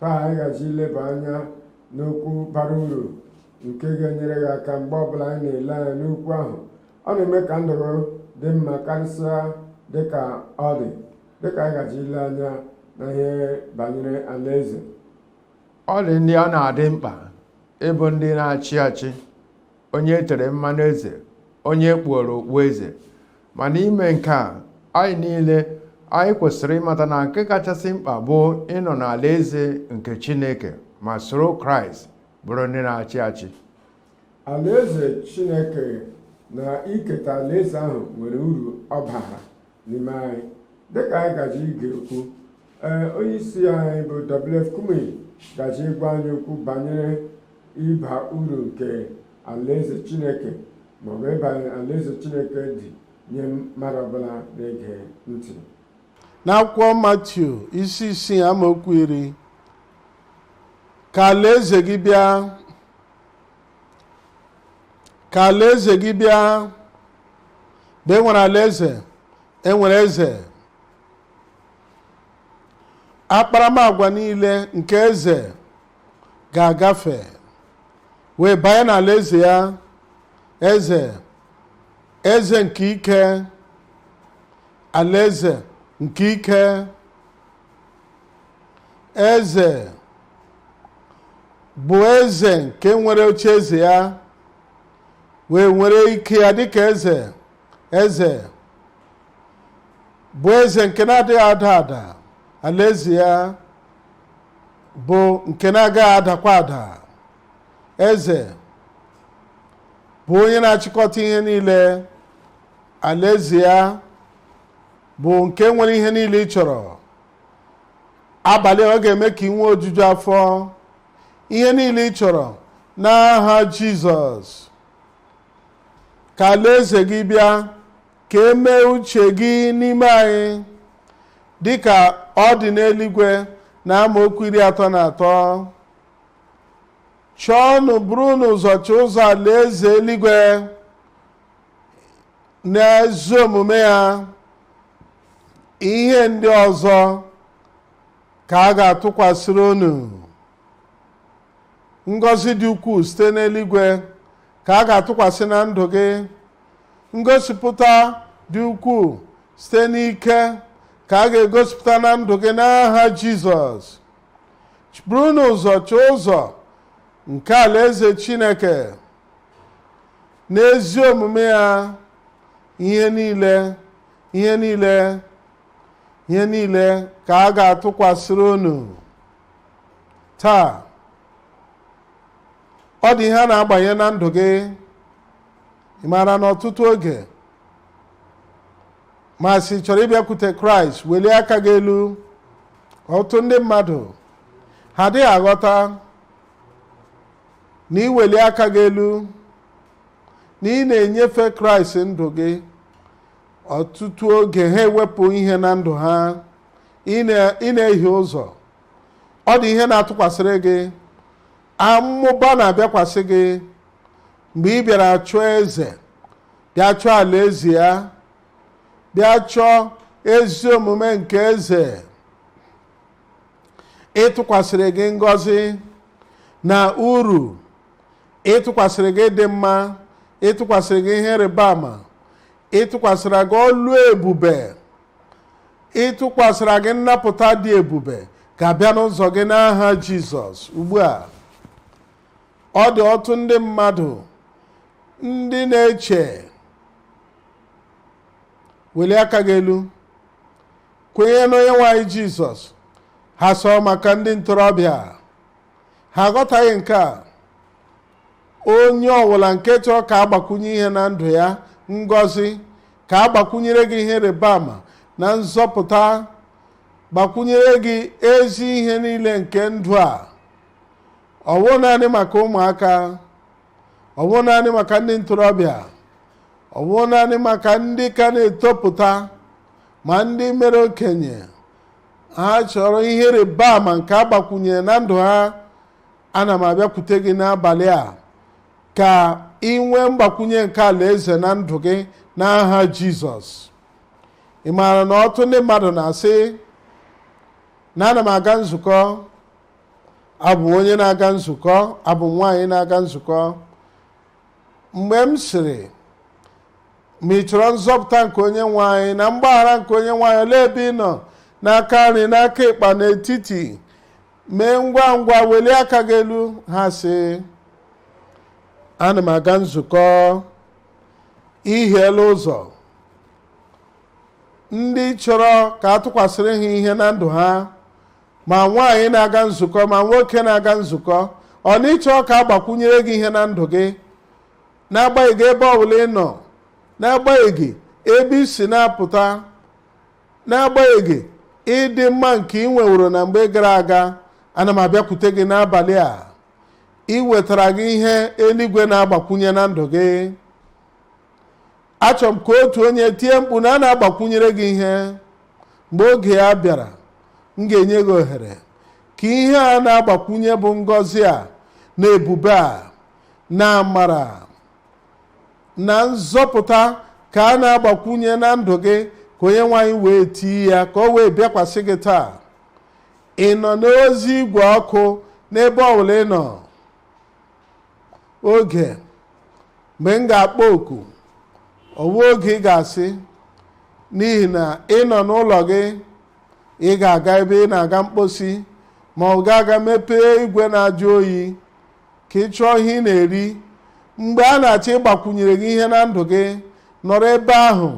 taa anyị gaji ileba anya n'okwu bara uru nke ga-enyere gị aka mgbe ọbụla anyị na-ele anya n'okwu ahụ ọ na-eme ka ndụ gị dị mma karịsịa dịka ọ dị dịka anyị gaji ile anya na ihe banyere alaeze ọ dị ndị ọ na-adị mkpa ịbụ ndị na-achị achị onye e tere mmanụ eze onye e kpuoro okpu eze ma n'ime nke a anyị niile anyị kwesịrị ịmata na nke kachasị mkpa bụ ịnọ n'alaeze nke Chineke ma soro Kraịst bụrụ ndị na-achị achị alaeze Chineke na iketa alaeze ahụ nwere uru ọ bara n'ime anyị dịka anyị gaji ige okwu ee onye isi anyị bụ WF Kumuyi gaji ịgwa anyị okwu banyere ịba uru nke alaeze Chineke maọbụ mkpa alaeze Chineke dị nye mmadụ ọbụla na-ege ntị n'akwụkwọ matiu isi isii amaokwu iri ka alaeze gị bịa ka alaeze gị bịa mgbe e nwere alaeze e nwere eze akparamagwa niile nke eze ga-agafe wee banye n'alaeze ya eze eze nke ike alaeze nke ike eze bụ eze nke nwere oche eze ya wee nwere ike ya dịka eze eze bụ eze nke na-adịghị ada ada alaeze ya bụ nke na-agaghị adakwa ada eze bụ onye na-achịkọta ihe niile alaeze ya bụ nke nwere ihe niile ị chọrọ abalị a ọ ga-eme ka ị nwee ojuju afọ ihe niile ị chọrọ n'aha jizọs ka alaeze gị bịa ka emee uche gị n'ime anyị dịka ọ dị n'eluigwe na amaokwu iri atọ na atọ chọọnụ burunu ụzọ chọọ ụzọ alaeze eluigwe na ezi omume ya ihe ndị ọzọ ka a ga-atụkwasịrị unu ngọzi dị ukwuu site n'eluigwe ka a ga-atụkwasị na ndụ gị ngosipụta dị ukwuu site n'ike ka a ga-egosipụta na ndụ gị n'aha jizọs burunu ụzọ chọọ ụzọ nke alaeze chineke n'ezi omume ya ihe niile ihe niile ihe niile ka a ga-atụkwasịrị unu taa ọ dị ihe a na-agbanye na ndụ gị ị maara na ọtụtụ oge m asị ị chọrọ ịbịakwute kraịst welie aka gị elu ọtụtụ ndị mmadụ ha adịghị aghọta na iweli aka gị elu na ị na-enyefe kraịst ndụ gị ọtụtụ oge ha ewepụ ihe na ndụ ha ị na- ị na-ehie ụzọ ọ dị ihe na-atụkwasịrị gị amụba na-abịakwasị gị mgbe ị bịara chọọ eze bịa chọọ alaeze ya bịa chọọ ezi omume nke eze ịtụkwasịrị gị ngọzi na uru ịtụkwasịrị gị ịdị mma ịtụkwasịrị gị ihe ịrịba ama ịtụkwasịra gị ọlụ ebube ịtụkwasịra gị nnapụta dị ebube ga-abịa n'ụzọ gị n'aha jizọs ugbu a ọ dị ọtụtụ ndị mmadụ ndị na-eche welie aka gị elu kwenye n'onye nwe anyị jizọs ha sị ọ bụ maka ndị ntorobịa ha aghọtaghị nke a onye ọbụla nke chọrọ ka a gbakwunye ihe na ndụ ya ngọzi ka a gbakwunyere gị ihe ịrịba ama na nzọpụta gbakwunyere gị ezi ihe niile nke ndụ a ọ bụghị naanị maka ụmụaka ọ bụghị naanị maka ndị ntorobịa ọ bụghị naanị maka ndị ka na-etopụta ma ndị mere okenye ha chọrọ ihe ịrịba ama nke a gbakwunyere na ndụ ha ana m abịakwute gị n'abalị a ka ị nwee mgbakwunye nke alaeze na ndụ gị n'aha jizọs ị maara na ọtụtụ ndị mmadụ na-asị na ana m aga nzukọ abụ m onye na-aga nzukọ abụ m nwaanyị na-aga nzukọ mgbe m sịrị ma ị chọrọ nzọpụta nke onye nwe anyị na mgbaghara nke onye nwe anyị olee ebe ị nọ n'aka nri n'aka ịkpa n'etiti mee ngwa ngwa welie aka gị elu ha sị ana m aga nzukọ i hiela ụzọ ndị chọrọ ka a tụkwasịrị ha ihe na ndụ ha ma nwaanyị na-aga nzukọ ma nwoke na-aga nzukọ ọ na ị chọrọ ka a gbakwunyere gị ihe na ndụ gị n'agbanyeghị ebe ọbụla ị nọ n'agbanyeghị ebe i si na-apụta n'agbanyeghị ịdị mma nke ị nweworo na mgbe gara aga ana m abịakwute gị n'abalị a iwetara gị ihe eluigwe na-agbakwunye na ndụ gị achọrọ m ka otu onye tie mkpu na a na-agbakwunyere gị ihe mgbe oge ya bịara m ga-enye gị ohere ka ihe a na-agbakwunye bụ ngọzi a na ebube a na amara na nzọpụta ka a na-agbakwunye na ndụ gị ka onye nwe anyị wee tii ya ka o wee bịakwasị gị taa ị nọ n'ozi igwe ọkụ n'ebe ọbụla ị nọ oge mgbe m ga-akpọ oku ọ wụ oge ị ga-asị n'ihi na ị nọ n'ụlọ gị ị ga-aga ebe ị na-aga mkposi ma ọ ga-aga mepee igwe na-ajụ oyi ka ị chọọ ihe ị na-eri mgbe a na-achọ ịgbakwunyere gị ihe na ndụ gị nọrọ ebe ahụ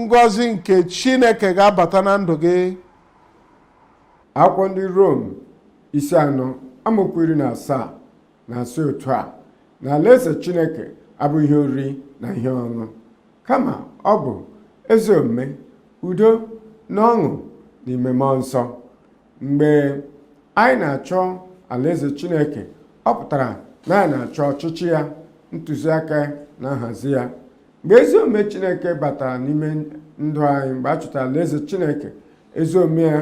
ngọzi nke chineke ga-abata na ndụ gị akwụkwọ ndị rom isi anọ amaokwu iri na asaa na-asị otu a na alaeze chineke abụghị ihe oriri na ihe ọṅụ kama ọ bụ ezi omume udo na ọṅụ n'ime mmụọ nsọ mgbe anyị na-achọ alaeze chineke ọ pụtara na anyị na-achọ ọchịchị ya ntụziaka na nhazi ya mgbe ezi omume chineke batara n'ime ndụ anyị mgbe a chọtara alaeze chineke ezi omume ya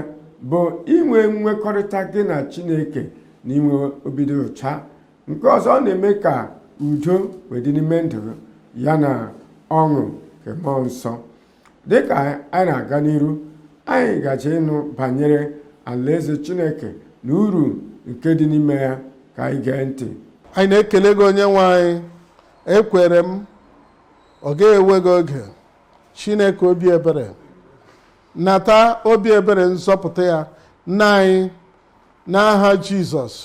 bụ inwe nwekọrịta gị na chineke na inwe obi dị ụcha nke ọzọ ọ na-eme ka udo wee dị n'ime ndụ ya na ọṅụ nke mmụọ nsọ dịka anyị na-aga n'iru anyị gaje ịnụ banyere alaeze chineke na uru nke dị n'ime ya ka anyị gee ntị anyị na-ekele gị onye nwe anyị ekwere m ọ ga-ewe gị oge chineke obi ebere nata obi ebere nzọpụta ya nna anyị n'aha jizọs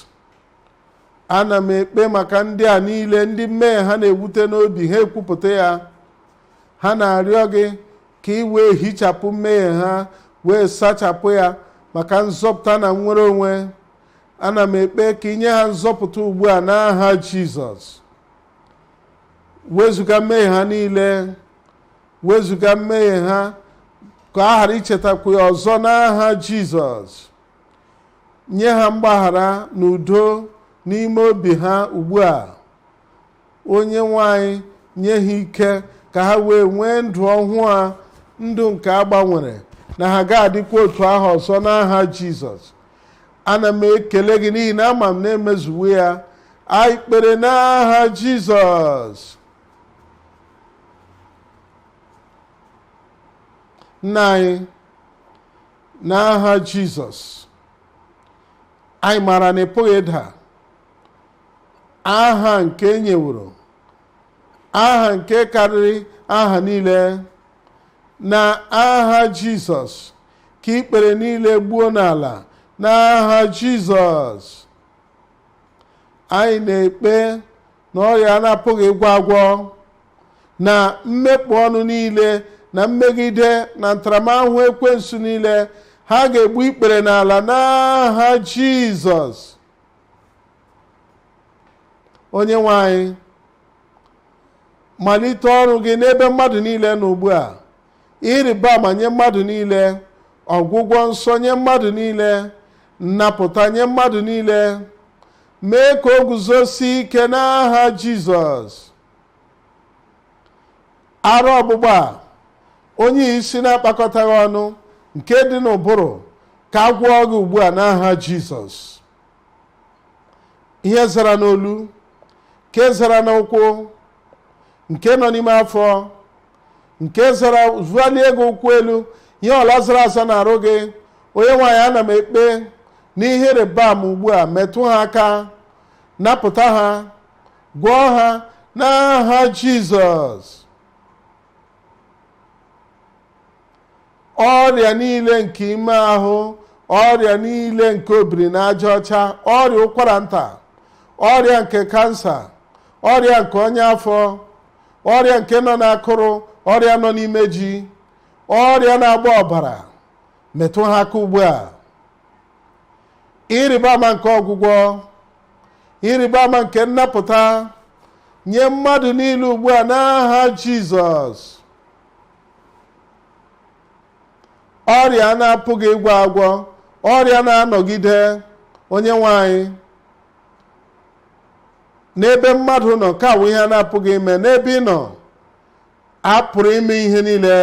ana m ekpe maka ndị a niile ndị mmehie ha na-ewute n'obi ha ekwupụta ya ha na-arịọ gị ka ị wee hichapụ mmehie ha wee sachapụ ya maka nzọpụta na nnwere onwe ana m ekpe ka i nye ha nzọpụta ugbu a n'aha jizọs wezuga mmehie ha niile wezuga mmehie ha ka a ghara ichetakwu ya ọzọ n'aha jizọs nye ha mgbaghara na udo n'ime obi ha ugbu a onye nwe anyị nye ha ike ka ha wee nwee ndụ ọhụụ a ndụ nke a gbanwere na ha ga-adịkwa otu ahụ ọzọ n'aha jizọs ana m ekele gị n'ihi na ama m na e mezuwo ya anyị kpere n'aha jizọs nna anyị n'aha jizọs anyị maara na ị pụghị ịda aha nke e nyeworo aha nke karịrị aha niile n'aha jizọs ka ikpere niile gbuo n'ala n'aha jizọs anyị na-ekpe na ọrịa a na-apụghị ịgwọ agwọ na mmekpọ ọnụ niile na mmegide na ntaramahụhụ ekwensu niile ha ga-egbu ikpere n'ala n'aha jizọs onye nwe anyị malite ọrụ gị n'ebe mmadụ niile nọ ugbu a ihe ịrịba ama nye mmadụ niile ọgwụgwọ nsọ nye mmadụ niile nnapụta nye mmadụ niile mee ka o guzosie ike n'aha jizọs ara ọgbụgba a onye isi na-akpakọtaghị ọnụ nke dị n'ụbụrụ ka a gwọọ gị ugbu a n'aha jizọs ihe zara n'olu nke zara n'ụkwụ nke nọ n'ime afọ nke zara zụalie gị ụkwụ elu ihe ọ bụla zara aza n'arụ gị onye nwe anyị ana m ekpe n'ihe ịrịba ama ugbu a metụ ha aka napụta ha gwọọ ha n'aha jizọs ọrịa niile nke ime ahụ ọrịa niile nke obiri n'aja ọcha ọrịa ụkwara nta ọrịa nke kansa ọrịa nke ọnya afọ ọrịa nke nọ n'akụrụ ọrịa nọ n'imeju ọrịa na-agba ọbara metụ ha aka ugbu a ịrịba ama nke ọgwụgwọ ịrịba ama nke nnapụta nye mmadụ niile ugbu a n'aha jizọs ọrịa a na-apụghị ịgwọ agwọ ọrịa na-anọgide onye nwe anyị n'ebe mmadụ nọ nke a bụ ihe a na-apụghị ime n'ebe ị nọ a pụrụ ime ihe niile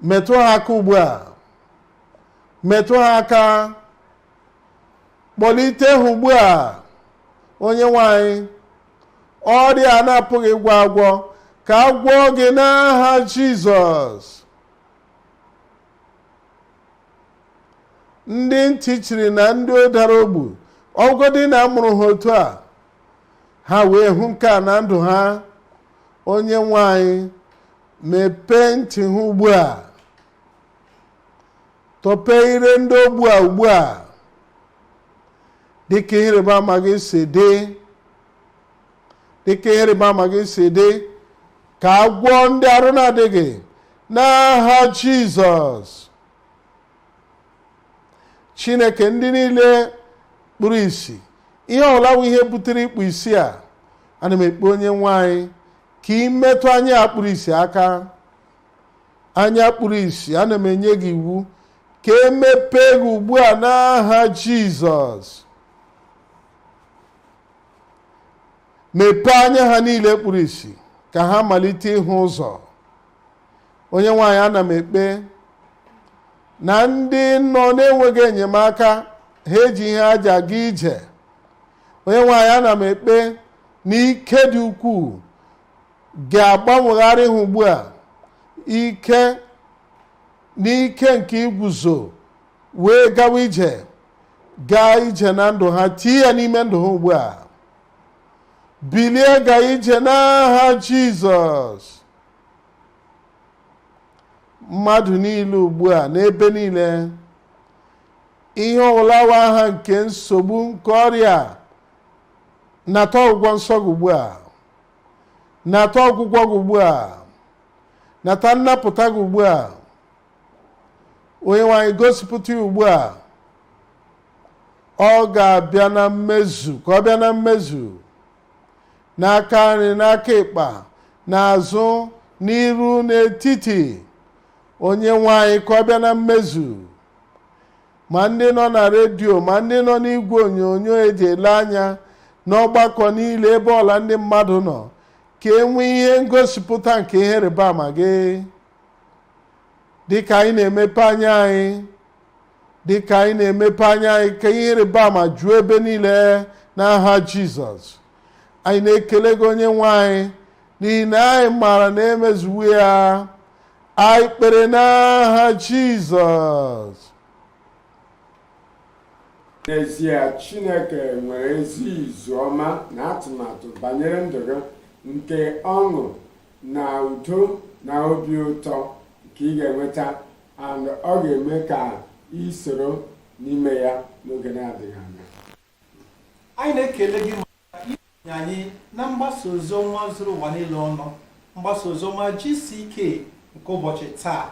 metụ ha aka ugbu a metụ ha aka kpọlite ha ugbu a onye nwe anyị ọrịa a na-apụghị ịgwọ agwọ ka a gwọọ gị n'aha jizọs ndị ntị chiri na ndị dara ogbu ọ wụgodị na a mụrụ ha otu a ha wee hụ nke a na ndụ ha onye nwe anyị mepee ntị ha ugbu a tọpee ire ndị ogbu a ugbu a dịka ihe ịrịba ama gị si dị dịka ihe ịrịba ama gị si dị ka a gwọọ ndị arụ na-adịghị n'aha jizọs chineke ndị niile kpuru isi ihe ọwụla wụ ihe butere ikpu isi a ana m ekpe onye nwe anyị ka ị metụ anya kpuru isi aka anya kpuru isi ana m enye gị iwu ka e mepee gị ugbu a n'aha jizọs mepee anya ha niile kpuru isi ka ha malite ịhụ ụzọ onye nwe anyị ana m ekpe na ndị nọ na-enweghị enyemaka ha eji ihe aja aga ije onye nwe anyị ana m ekpe na ike dị ukwuu ga-agbanwegharị ha ugbu a ike n'ike nke iguzo wee gawa ije gaa ije na ndụ ha tie ya n'ime ndụ ha ugbu a bilie gaa ije n'aha jizọs mmadụ niile ugbu a n'ebe niile ihe ọwụla wụ aha nke nsogbu nke ọrịa nata ọgwụgwọ nsọ gị ugbu a nata ọgwụgwọ gị ugbu a nata nnapụta gị ugbu a onye nwe anyị gosipụta ya ugbu a ọ ga-abịa na mmezu ka ọ bịa na mmezu n'aka nri n'aka ịkpa n'azụ n'iru n'etiti onye nwe anyị ka ọ bịa na mmezu ma ndị nọ na redio ma ndị nọ n'igwe onyonyo e ji ele anya n'ọgbakọ niile ebe ọwụla ndị mmadụ nọ ka e nwee ihe ngosipụta nke ihe ịrịba ama gị dịka anyị na-emepe anya anyị dịka anyị na-emepe anya anyị ka ihe ịrịba ama juo ebe niile n'aha jizọs anyị na-ekele gị onye nwe anyị n'ihi na anyị maara na e mezuwo ya anyị kpere n'aha jizọs n'ezie chineke nwere ezi izu ọma na atụmatụ banyere ndụ gị nke ọṅụ na udo na obi ụtọ nke ị ga-enweta and ọ ga-eme ka i soro n'ime ya n'oge na-adịghị anya anyị na-ekele gị nye anyị na mgbasa ozi ọma zuru ụwa niile ọnụ mgbasa ozi ọma GCK nke ụbọchị taa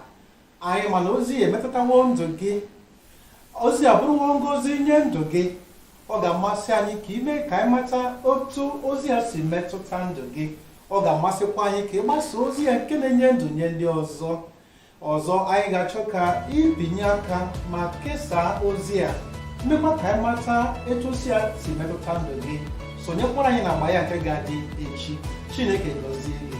anyị ma na ozi a emetụtawo ndụ gị ozi a abụrụwo ngozi nye ndụ gị ọ ga-amasị anyị ka i mee ka anyị mata otu ozi a si metụta ndụ gị ọ ga-amasịkwa anyị ka ị gbasa ozi a nke na-enye ndụ nye ndị ọzọ ọzọ anyị ga-achọ ka ị binye aka ma kesaa ozi a meekwa ka anyị mata etu ozi a si metụta ndụ gị sonyekwara anyị n'agba ya nke ga-adị echi chineke gọzie gị